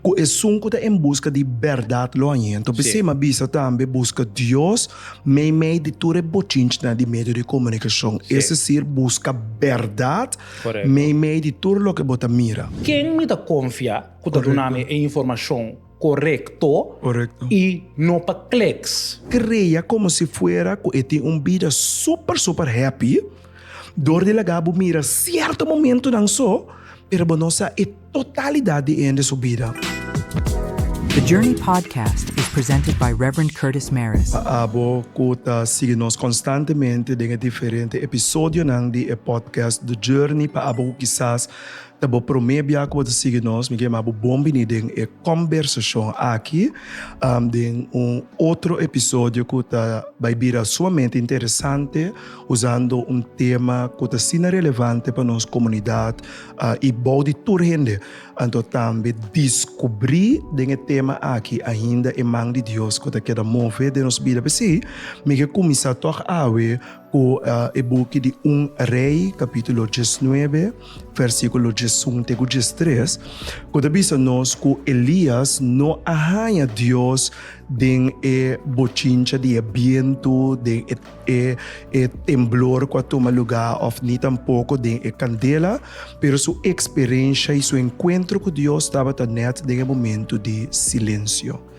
Ku esun ku ta en buska di bèrdat lo hanyento. Bensema bisa tambe buska Dios meimei di tur e bochinchnan di medio di komunikashon, es desir buska bèrdat meimei di tur loke bo ta mira. Ken mi ta konfia ku ta duna mi e informashon korekto i no pa kleks? Krea komo si fuera ku e tin un bida super super happy dor di laga bo mira sierto momentunan so, pero bo no sa e. Totalidat di hende su bida. The Journey Podcast is presented by Rev. Curtis Mares. Pa abo cu ta sigui nos constantemente den e diferente episodionan di e podcast The Journey, pa abo cu kisas ta bo prome bia cu bo ta sigui nos, mi quiere manda bo bon bini den e combersacion aki, den un otro episodio cu ta bay bira sumamente interesante, usando un tema cu ta asina relevante pa nos comunidad, uh, i bou di tur hende. Anto tambe descubrí den e tema aki ainda e man di Dios cu ta keda move den nos bida. P'esei, mi ke cuminsa toch awe cu uh, e buki di Un Rey, capítulo 19, versículo 1 te cu 3, cu ta bisa nos cu Elías no a haña Dios den e bochincha di e bientu, den e e e temblor ku a tuma lugá òf ni tampoko den e kandela, pero su eksperensha i su enkuentro ku Dios tabata nèt den e momentu di silensio.